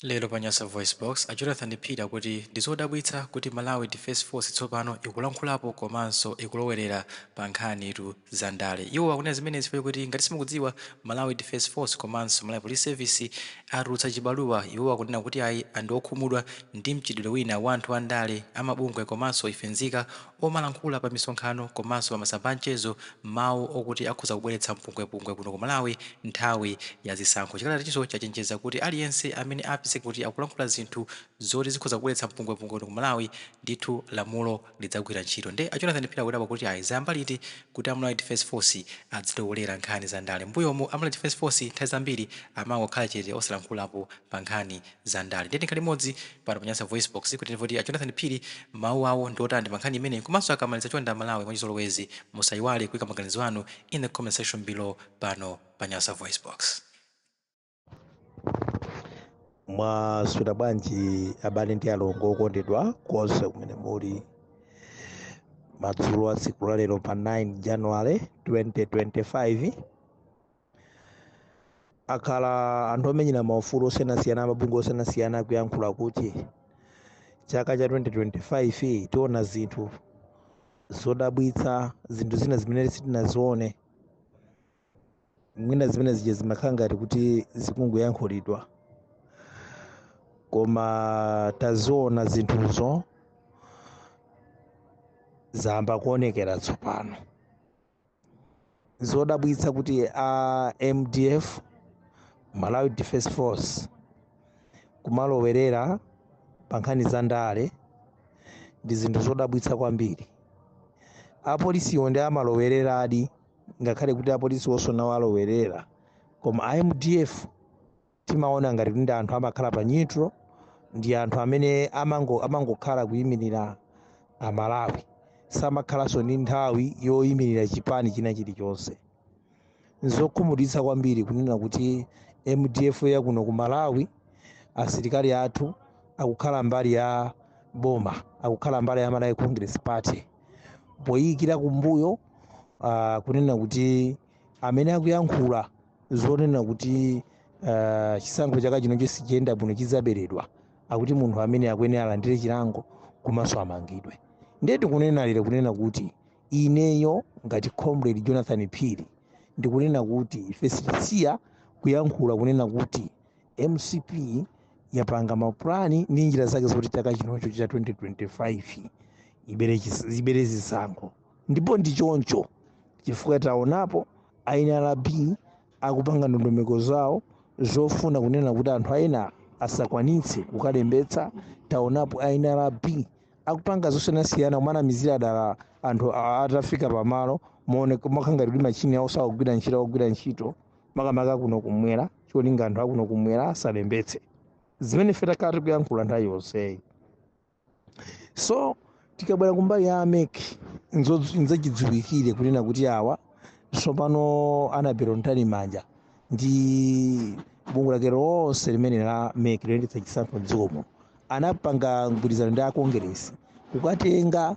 Lero pa Nyasa VoiceBox, a Jonathan Phiri akuti ndi zodabwitsa kuti Malawi Defence Force tsopano ikulankhulapo komanso ikulowerera pa nkhanitu za ndale. Iwo akunena zimenezi chifukwa chokuti ngati simukudziwa, Malawi Defence Force komanso Malawi Police Service atulutsa chibaluwa iwo akunena kuti ayi ndi okhumudwa ndi mchitidwe wina wa anthu andale, amabungwe komanso ife nzika omalankhula pa misonkhano komanso pa masamba a mchezo mawu okuti akhoza kubweretsa mpungwepungwe kuno ku Malawi nthawi ya zisankho. Chikalatachinso chachenjeza kuti aliyense amene apezeke kuti akulankhula zinthu zoti zikhoza kubweretsa mpungwepungwe kuno ku Malawi ndithu lamulo lidzagwira ntchito. Nde a Jonathan Phiri akudabwa kuti ayi zayamba liti kuti a Malawi Defence Force adzilowelera nkhani za ndale. Mmbuyomu a Malawi Defence Force nthawi zambiri amangokhala chete osalankhulapo pa nkhani za ndale. Ndiye tikhale limodzi pano pa Nyasa VoiceBox kuti timve kuti a Jonathan Phiri mawu awo ndi otani pa nkhani imeneyi komanso akamaliza chonde a Malawi mwachizolowezi musayiwale kuyika maganizo anu in the comment section below pano pa Nyasa VoiceBox. mwaswera bwanji abale ndi alongo okondedwa konse kumene muli madzulo a tsiku lalero pa 9 january 2025 akhala anthu omenyera maufulu osiyanasiyana amabungwe osiyanasiyana akuyankhula kuti chaka cha 2025 tiona zinthu zodabwitsa zinthu zina zimene sitinazione mwina zimene zija zimakhala ngati kuti zikungoyankhulidwa koma taziona zinthuzo zayamba kuonekera tsopano zodabwitsa kuti a mdf malawi defense force kumalowerera pa nkhani za ndale ndi zinthu zodabwitsa kwambiri apolisiwo ndi amalowereradi ngakhale kuti apolisi wonso nawo alowerera koma a mdf timaona ngati kuti ndi anthu amakhala pa neutral ndi anthu amene amangokhala kuyimirira amalawi samakhalanso ndi nthawi yoyimirira chipani china chilichonse nzokhumudwitsa kwambiri kunena kuti mdf yakuno ku malawi asilikali athu akukhala mbali ya boma akukhala mbali ya malawi congress party poyikira kumbuyo uh, kunena kuti amene akuyankhula zonena kuti ah, chisankho chaka chinocho sichiyenda bwino chidzaberedwa akuti munthu ameneyo akuyenera alandire chilango komanso amangidwe ndiye tikunena lero kunena kuti ineyo ngati comrade jonathan phiri ndikunena kuti ife sitisiya kuyankhula kunena kuti mcp yapanga mapulani ndi njira zake zoti chaka chinocho cha 2025 ibere chis- ibere zisankho ndipo ndi choncho chifukwa taonapo a nrb akupanga ndondomeko zawo zofuna kunena kuti anthu aena asakwanitse kukalembetsa taonapo a nrb akupanga zosiyanasiyana kumanamizira dala anthu a- atafika pamalo mooneka makangati kuti machini awo sakugwira ntchito akugwira ntchito makamaka kuno kumwera cholinga anthu akuno kumwera asalembetse zimene ife takhala tikuyankhula nthawi yonseyi so tikabwera kumbali ya a mec nzo- nzachidziwikire kunena kuti awa tsopano anabel mtalimanja ndi bungwe lake lonse limene la mec loyendetsa chisankho mdziko muno anapanga mgwirizano ndi akongeresi kukatenga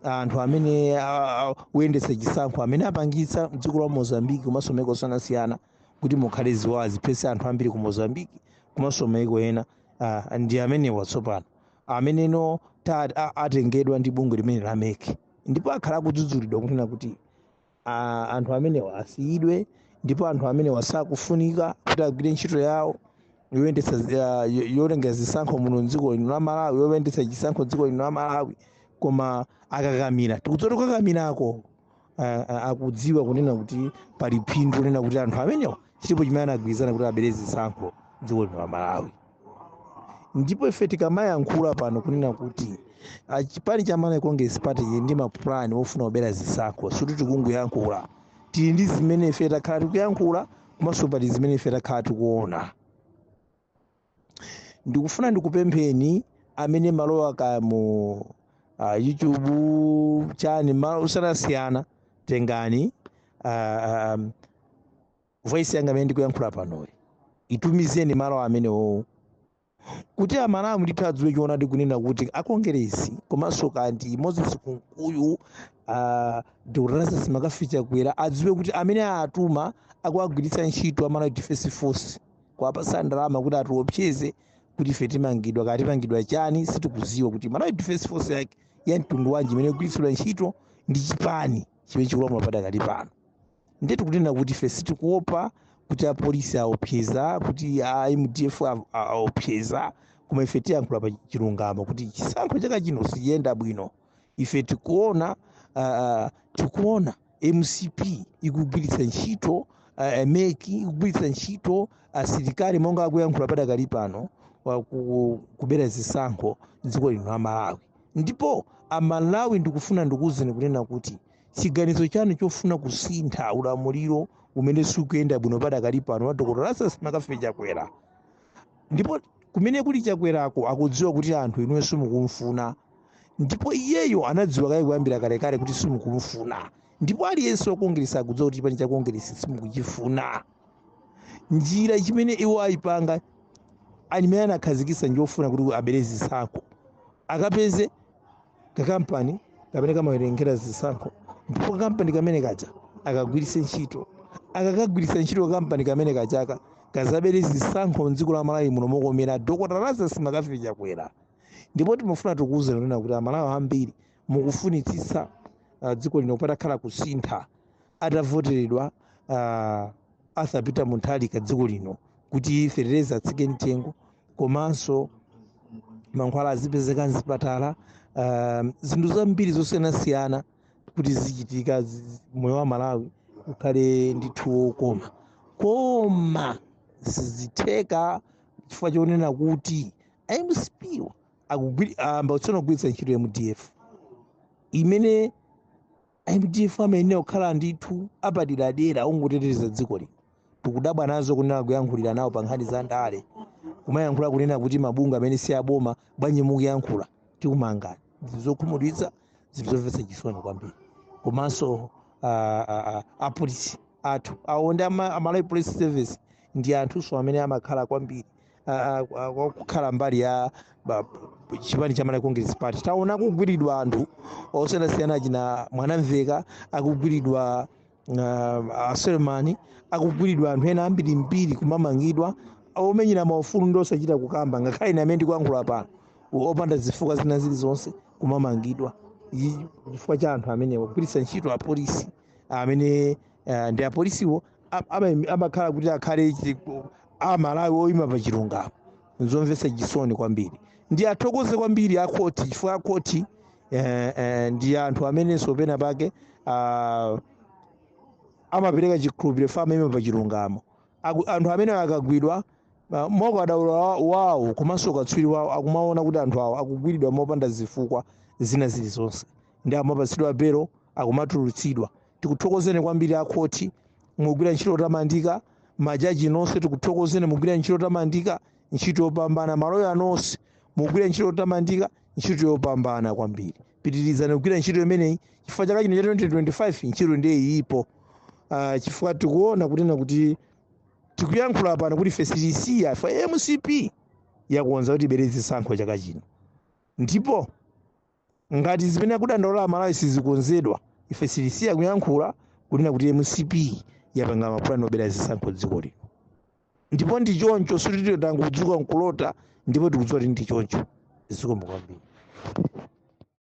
anthu amene a- a- oyendetsa chisankho amene apangitsa mdziko la mozambiki komanso maiko osiyanasiyana kuti mukhale ziwawa ziphetse anthu ambiri ku mozambiki komanso maiko ena ah, ndi amenewa tsopano ameneno ta- a- atengedwa ndi bungwe limene la mec ndipo akhala akudzudzulidwa kunena kuti a- anthu amenewa asiyidwe ndipo anthu amenewa sakufunika kuti agwire ntchito yawo yoyendetsa zi- ya- yo- yotengera zisankho muno mdziko lino la malawi yoyendetsa chisankho dziko lino la malawi koma akakamira tikudziwa kuti kukakamirako ah, ah, akudziwa kunena kuti pali phindu kunena kuti anthu amenewa chilipo chimene anagwirizana kuti abere zisankho dziko lino la malawi ndipo ife tikamayankhula pano kunena kuti ah, chipani cha malawi congress party chili ndi mapulani ofuna kubera zisankho sikuti tikungoyankhula tili ndi zimene ife takhala tikuyankhula komanso pali zimene ife takhala tikuona ndikufuna ndikupempheni amene malowa ka mu uh, youtube chani malo osiyanasiyana tengani uh, um, voice yanga imene ndikuyankhula panoyi itumizeni malo amenewo kuti amalawi ndithu adziwe choonadi kunena kuti akongeresi komanso kandi moses kunkuyu uh, dr lazarus mccarthy chakwera adziwe kuti amene atuma akuwagwiritsa ntchito a malawi defense force kuwapasa ndalama kuti atiopseze kuti ife timangidwa kaya timangidwa chani sitikuziwa kuti malawi defense force yake ya mtundu wanji imene ikugwiritsidwa ntchito ndi chipani chimene chikulamula padakali pano ndiye tikunena kuti ife sitikuopa kuti apolisi aopseza kuti a mdf a- a- aopseza koma ife tiyankhula pa chilungamo kuti chisankho chaka chino sichiyenda bwino ife tikuona uh, tikuona mcp ikugwiritsa ntchito uh, meki ikugwiritsa ntchito asilikali monga akuyankhula padakali panowa ku- kubera zisankho dziko lino la malawi ndipo amalawi ndikufuna ndikuuzeni kunena kuti chiganizo chanu chofuna kusintha ulamuliro umene sukuyenda bwino padakali pano wa dr lazarus mccarthy chakwera ndipo kumene kuli chakwerako akudziwa kuti anthu inuyo simukumfuna ndipo iyeyo anadziwa kaye kuyambira kalekale kuti simukumfuna ndipo aliyense wakongeresa akudziwa kuti chipani chakongeresa simukuchifuna njira imene iwo ayipanga ali imene anakhazikitsa njofuna kuti abere zisankho akapeze kakampani kamene kamawerengera zisankho ndipo kakampani kamene kaja akagwiritse ntchito akakagwiritsa ntchito kampani kamene kajaka kazabere zisankho mdziko la malawi muno mokomera dokota lazarus mccarthy chakwera ndipo timafuna tikuwuzeni kunena kuti amalawi ambiri mukufunitsitsa uh, dziko lino patakhala kusintha atavoteredwa uh, arthur peter mutharika dziko lino kuti fetereza atsike mtengo komanso mankhwala azipezeka mzipatala um, zinthu zambiri zosiyanasiyana kuti zichitika zi- zi- moyo wa amalawi ukhale ndithu wokoma koma sizitheka chifukwa chonena kuti mcp wo akugwiri- ayamba tsono kugwiritsa ntchito mdf imene mdf amayenera kukhala ndithu apaderadera ongoteteza dziko lino tikudabwa nazo kunena kuyankhulira nawo pa nkhani za ndale kumayankhula kunena kuti mabungwe amene si aboma bwanji mukuyankhula tikumanga ndi zokhumudwitsa zinthu zomvetsa chisoni kwambiri komanso ah, ah, ah, apolisi athu awo ndi ama- amalawi police service ndi anthunso amene amakhala kwambiri ah, ah, ah, kwa- kukhala mbali ya ba- p- chipani cha malawi congress party taona akugwidwa anthu osiyanasiyana achina mwanamvekha akugwidwa a suleman akugwidwa anthu ena ambirimbiri kumamangidwa omenyera maufulu ndi osachita kukamba ngakhale ine amene ndikuyankhula pano opanda zifukwa zina zilizonse kumamangidwa Ichi chifukwa cha anthu amenewa kugwiritsa ntchito apolisi amene eh, ndi apolisiwo a- ama- amakhala kuti akhale chi- amalawi oyima pa chilungamo nzomvetsa chisoni kwambiri ndiwathokoze kwambiri akhoti chifukwa akhoti eh, eh, ndi anthu amenenso pena pake ah, amapereka chikhulupiriro amaima pa chilungamo Aku- anthu amene akugwidwa ah, mwaukadaulo wa- wawo komanso ukatswiri wawo akumaona kuti anthu awa akugwidwa mopanda zifukwa zina zilizonse ndiye amapatsidwa belo akumatulutsidwa tikuthokozeni kwambiri akhoti mugwira ntchito yotamandika majaji nonse tikuthokozeni mugwira ntchito yotamandika ntchito yopambana maloya nonse mugwira ntchito yotamandika ntchito yopambana kwambiri pitirizani kugwira ntchito imeneyi chifukwa chaka chino cha 2025 ntchito ndiye ilipo uh, chifukwa tikuona kunena kuti tikuyankhula pano kuti ife sitisiya kuti mcp yakonza kuti ibere zisankho chaka chino ndipo ngati zimene akudandaula amalawi sizikonzedwa ife sitisiya kuyankhula kunena kuti mcp yapanga mapulani obera zisankho dziko lino ndipo ndi choncho siti tangodzuka nkulota ndipo tikudziwa kuti ndi choncho zikomo kwambiri